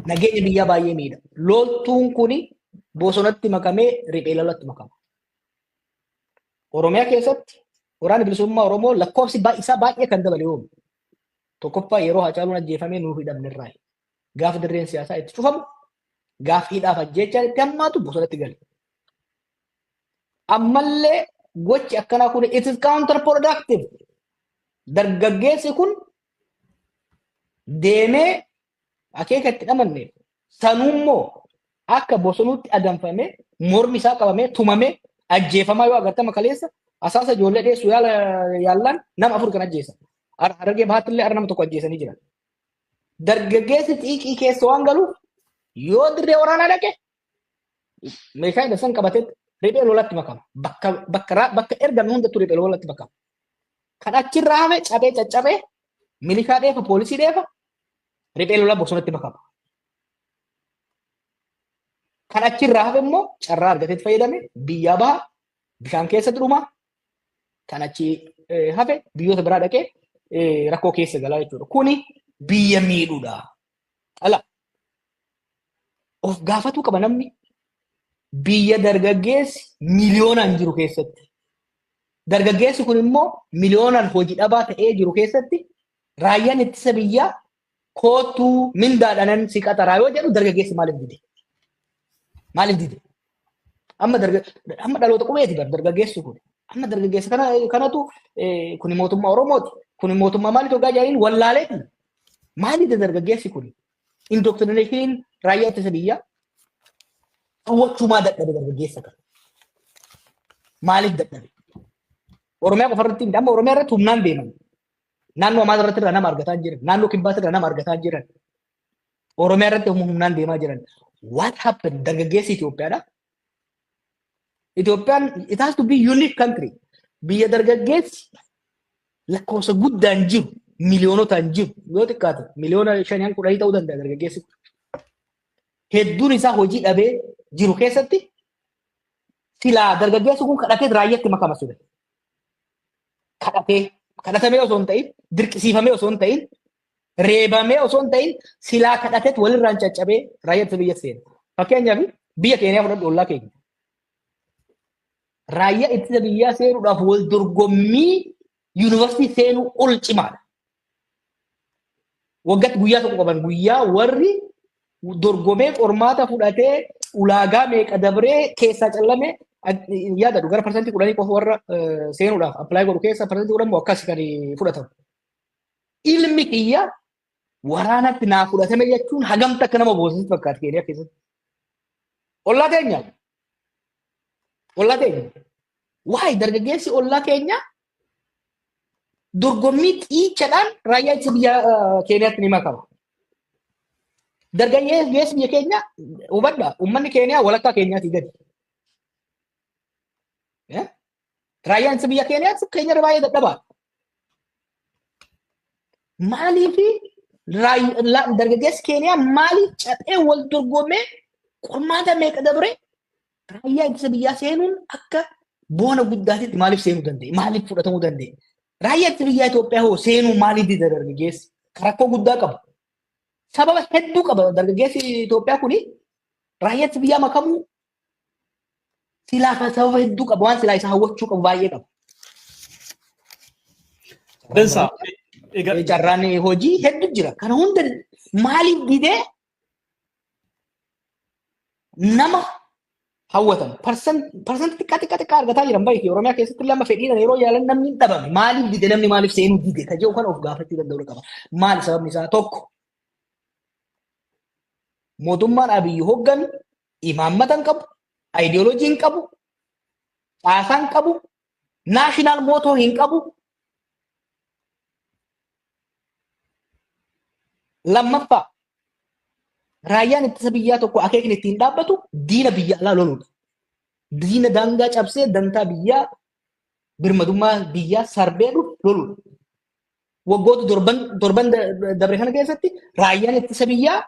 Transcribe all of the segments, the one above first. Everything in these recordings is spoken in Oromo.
Nageenya biyyaa baay'ee miidha. Loltuun kun bosonatti makamee riphee lolatti makama. Oromiyaa keessatti waraanni bilisummaa Oromoo lakkoofsi isaa baay'ee kan dabale oomu. Tokkoffaa yeroo Hacaaluun ajjeefamee nuuf hidhamne irraa gaafa dirreen siyaasaa itti cufamu gaafa hidhaaf ajjeechaan itti hammaatu bosonatti gale. Ammallee gochi akkanaa kun it is counter productive. Dargaggeessi kun deemee akeeka itti dhamanne sanuummoo akka bosonuutti adamfamee mormi isaa qabamee tumamee ajjeefamaa yoo agartama kaleessa asaasa ijoollee dheessu yaala yaallaan nama afur kan ajjeesan. Har- Harargee bahaatti illee har'a nama tokko ajjeesanii jiran. Dargaggeessi xiiqii keessa waan galuuf yoo dirree waraanaa dhaqe meeshaa hidhan san qabatee riphee lolatti makama. Bakka bakka raa- bakka ergame hundatti riphee lolatti makama. Kan achirraa hafe cabee caccabee milishaa dheefa poolisii dheefa riphee lolaa bosonatti makama. Kan achirraa hafe immoo carraa argatetti fayyadame biyyaa baha bishaan keessatti dhuma kan achi eh, hafe biyyoota biraa dhaqee eh, rakkoo keessa galaa jechuudha. Kuni biyya miidhuudha. Dhala. Of gaafatuu qaba namni biyya dargaggeessi miliyoonaan jiru keessatti. Dargaggeessi kun immoo miliyoonaan hojii dhabaa ta'ee jiru keessatti raayyaan ittisa biyyaa koottuu mindaadhanan si qaxaraa yoo jedhu dargaggeessi maaliif dide? Maaliif dide? Amma darga amma dhaloota qubeeti bar dargaggeessi kun. Amma dargaggeessa kana kanatu eh, kuni mootummaa Oromooti. Kuni mootummaa maaliif hoggaa jaaniin wallaaleeti. Maaliif dargaggeessi kun? Indoktirineshiniin raayyaa ittisa biyyaa hawwachuumaa dadhabe dargaggeessa kana. Maaliif dadhabe? Oromiyaa qofa irratti amma Oromiyaa irratti humnaan deeman. Naannoo Amaaraa irratti irraa nama argataa jiran. Naannoo Kibbaas irraa nama argataa jiran. Oromiyaa irratti humna humnaan deemaa jiran. What happened? Dargaggeessi Itoophiyaadha. Itoophiyaan it has to be unique country. Biyya dargaggeessi lakkoofsa guddaan jiru miliyoonotaan jiru yoo xiqqaate miliyoona shaniin kudhanii ta'uu danda'a dargaggeessi. Hedduun isaa hojii dhabee jiru keessatti silaa dargaggeessi kun kadhatee raayyaatti makama ture. Kadhatee kadhatamee osoo hin ta'in dirqisiifamee osoo hin ta'in reebamee osoo hin ta'in silaa kadhateet walirraan caccabee raayyaa ittisa biyya seena. Fakkeenyaaf biyya keenyaa fudhadhu ollaa keenya. Raayyaa ittisa biyyaa seenuudhaaf wal dorgommii yuunivarsiitii seenuu ol cimaadha. Waggaatti guyyaa tokko qaban guyyaa warri dorgomee qormaata fudhatee ulaagaa meeqa dabree keessaa callame yaadadhu gara parsantii kudhanii qofa warra seenuudhaaf appilaayi godhu keessaa parsantii kudhan moo akkas kan fudhatamu. Ilmi kiyya waraanatti naa fudhatame jechuun hagamta akka nama boosisatti fakkaata keeniyaa keessatti. Ollaa keenya. Ollaa keenya. Waa'ee dargaggeessi ollaa keenya dorgommii xiichadhaan raayyaa ittisa biyya keeniyaatti ni makama. Dargaggeessi biyya keenya hubadha uummanni keeniyaa walakkaa keenyaatii gadi. Raayyaan ittisa biyya Keeniyaa Keeniyarra baay'ee dadhabaa. Maaliif dargaggeessi Keeniyaa maaliif caphee wal dorgomee qormaata meeqa dabre raayyaa ittisa biyyaa seenuun akka boona guddaatitti maaliif seenuu danda'e? Maaliif fudhatamuu danda'e? Raayyaa ittisa biyyaa Itoophiyaa hoo seenuu maaliif dida dargaggeessi? Rakkoo guddaa qaba. Sababa hedduu qaba dargaggeessi Itoophiyaa kuni raayyaa ittisa biyyaa makamuu Silaa kan sababa hedduu qaba waan silaa isa hawwachuu qabu baay'ee qaba. Dansaa. Egaa Eh, Carraan eh, hojii hedduu jira. Kana hunda maaliif didee nama hawwatan parsantii xiqqaa xiqqaa xiqqaa argataa jiran baay'ee Oromiyaa keessatti lama fedhiidhaan yeroo yaalan namni hin dhabame maaliif dide namni maaliif seenuu dide ka jedhu kan of gaafachuu danda'u qaba. Maali sababni isaa tokko mootummaan Abiyyi hoggan Imaammata hin qabu, ideology hin qabu, caasaa hin qabu, national motto hin qabu. Lammaffaa raayyaan ittisa biyyaa tokko akeekni ittiin dhaabbatu diina biyya alaa loluudha. Diina daangaa cabsee dantaa biyyaa birmadummaa biyyaa sarbee dhufu loluudha. Waggoota torban torban dabre kana keessatti raayyaan ittisa biyyaa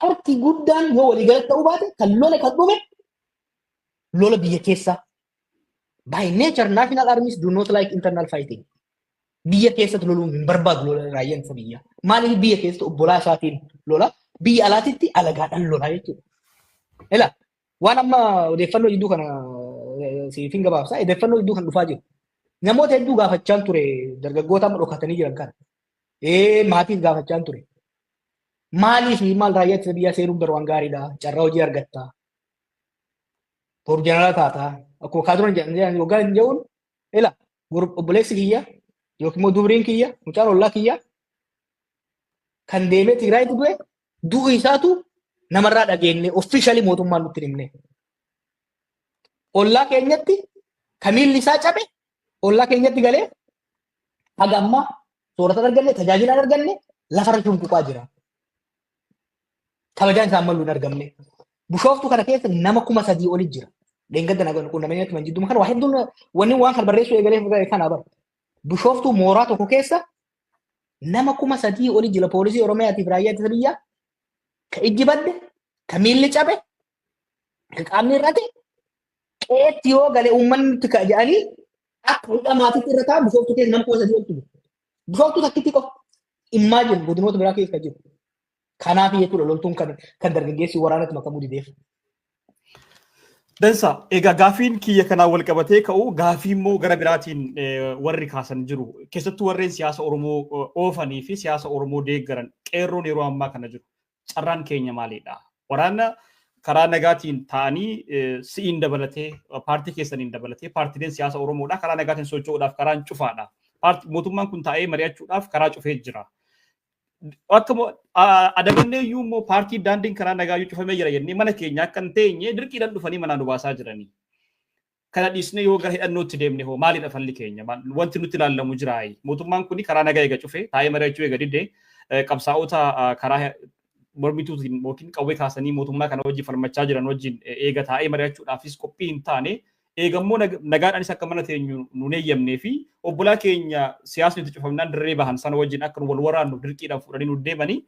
Harki guddaan yoo waliigalatti ta'uu baate kan lole kan dhume lola biyya keessaa. By nature national armies do not like internal fighting. Biyya keessatti loluu hin barbaadu lola raayyaan ittisa biyyaa. Maaliif biyya keessatti obbolaa isaatiin lola biyya alaatitti alagaadhaan lola jechuudha. Ila waan amma odeeffannoo jidduu kana eh, siif hin gabaabsa. Odeeffannoo jidduu kan dhufaa jiru. Namoota hedduu gaafachaan ture dargaggoota amma dhokatanii jiran kana. Ee maatiif gaafachaan ture. Maaliif maal raayyaa ittisa biyyaa seenuun garuu waan gaariidha. Carraa hojii argatta. Boru jeneraalaa taata. Akkuma kaaturan jedhan waggaa hin jedhuun ila obboleessi kiyya yookiin immoo dubriin kiyya mucaan ollaa kiyya kan deemee Tigraayitti du'e du'u isaatu namarraa dhageenye offiishalii mootummaan nutti himne. Ollaa keenyatti kan miilli isaa cabe ollaa keenyatti galee haga ammaa soorata hin arganne tajaajila hin arganne lafarra cunquqaa jira. Kabajaan isaan malu hin argamne. Bushooftuu kana keessa nama kuma sadii oli jira. Dheengadda nagaan quunnamanii natti man jidduma kana waa hedduun wanni waan kan barreessuu eegalee kana bara. Bushooftuu mooraa tokko keessa nama kuma sadii oli jira poolisii Oromiyaatiif raayyaa ittisa biyyaa ka ijji badde ka miilli cabe Qaamni irratti qeetti yoo gale uummanni nutti ka'a jedhanii akka hudhaa maatiitti irra taa'an bishooftuu keessa nama kuma sadii oltu jiru. Bishooftuu takkitti qofa dhimmaa jiru godinoota biraa keessa jiru. Kanaaf jechuudha loltuun kan kan dargaggeessi waraanatti makamuu dideef. Dansa, egaa gaafiin kiyya kanaan wal qabatee ka'u gaafii immoo gara biraatiin eh, warri kaasan jiru. Keessattuu warreen siyaasa Oromoo eh, oofanii fi siyaasa Oromoo deeggaran qeerroon yeroo ammaa kana jiru. Carraan keenya maalidha? Waraana karaa nagaatiin taa'anii si'iin dabalatee paartii keessaniin dabalatee paartileen siyaasa Oromoodha karaa nagaatiin socho'uudhaaf karaan cufaadha. Mootummaan kun taa'ee mari'achuudhaaf karaa cufee jira. Akka adabannee iyyuu immoo paartii daandiin karaa nagaa iyyuu cufamee jira jennee mana keenya akka hin teenye dirqiidhaan dhufanii manaa nu baasaa jiranii. Kana dhiisnee yoo gara hidhannootti deemne hoo maalidha falli keenya? Wanti nutti ilaallamu jiraayi? Mootummaan kun karaa nagaa eega cufe, taa'ee mari'achuu eega dide, qabsaa'ota karaa mormituutiin yookiin qawwee kaasanii mootummaa kana wajjin falmachaa jiran wajjin eega taa'ee mari'achuudhaafis qophii hin taane, eega immoo nagaadhaanis akka mana teenyu nuun eeyyamnee fi obbolaa keenya siyaasni itti cufamnaan dirree bahan sana wajjin akka nu wal waraannu dirqiidhaan fuudhanii nuun deemanii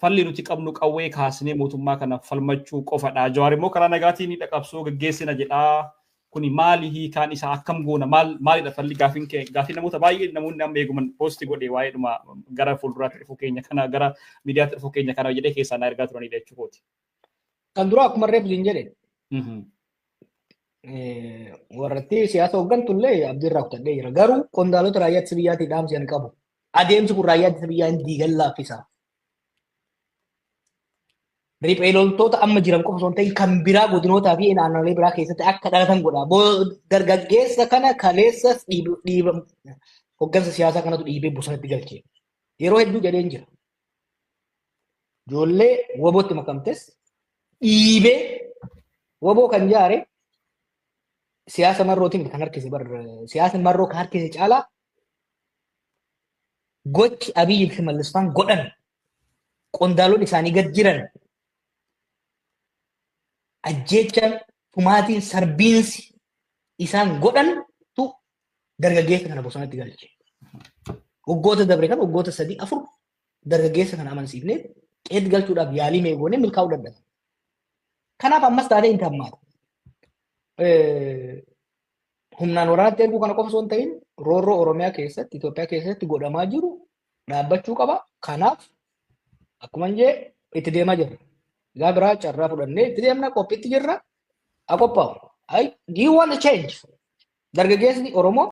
Falli nuti qabnu qawwee kaasnee mootummaa kanaaf falmachuu qofadha. Jawaar immoo karaa nagaatiin hidha qabsoo gaggeessina jedha. Kuni maali hiikaan isaa akkam goona maal maalidha falli gaafiin kee gaafii namoota baay'ee namoonni amma eeguman poosti godhe waa'ee dhuma gara fuulduraatti dhufuu keenya kana gara miidiyaatti dhufuu keenya kana jedhee keessaa na ergaa turanidha jechuukooti. Kan duraa akkuma reef siin jedhe warratti siyaasa hooggantu illee abdii irraa kutadhee jira. Garuu qondaalota raayyaa ittisa biyyaatii dhaamsi kan qabu. Adeemsi kun raayyaa ittisa biyyaa hin diigan laaffisa. Riphee loltoota amma jiran qofa osoo hin ta'in kan biraa godinootaa fi naannolee biraa keessatti akka dhalatan godha. Dargaggeessa kana kaleessa dhiiba hooggansa siyaasaa kanatu dhiibee bosonatti galche. Yeroo hedduu jedheen jira. Ijoollee wabootti makamtes dhiibee waboo kan jaare siyaasa marrootiin kan harkise bar siyaasa marroo kan harkise caalaa gochi Abiyyi fi Mallisfaan godhan qondaalonni isaanii gad jiran ajjeechaan tumaatiin sarbiinsi isaan godhantu dargaggeessa kana bosonatti galche. Waggoota dabre kana waggoota sadii afur dargaggeessa kana amansiifnee qeetti galchuudhaaf yaalii mee goonee milkaa'uu dadhabe. Kanaaf ammas taatee hin hammaatu. Humnaan waraanatti erguu kana qofa osoo hin ta'in roorroo Oromiyaa keessatti Itoophiyaa keessatti godhamaa jiru dhaabbachuu qaba. Kanaaf akkuma hin jee itti deemaa jirra. Gaa biraa carraa fudhannee itti deemna qophiitti jirra. haa qophaa'u. Do you want a change? Dargaggeesni Oromoo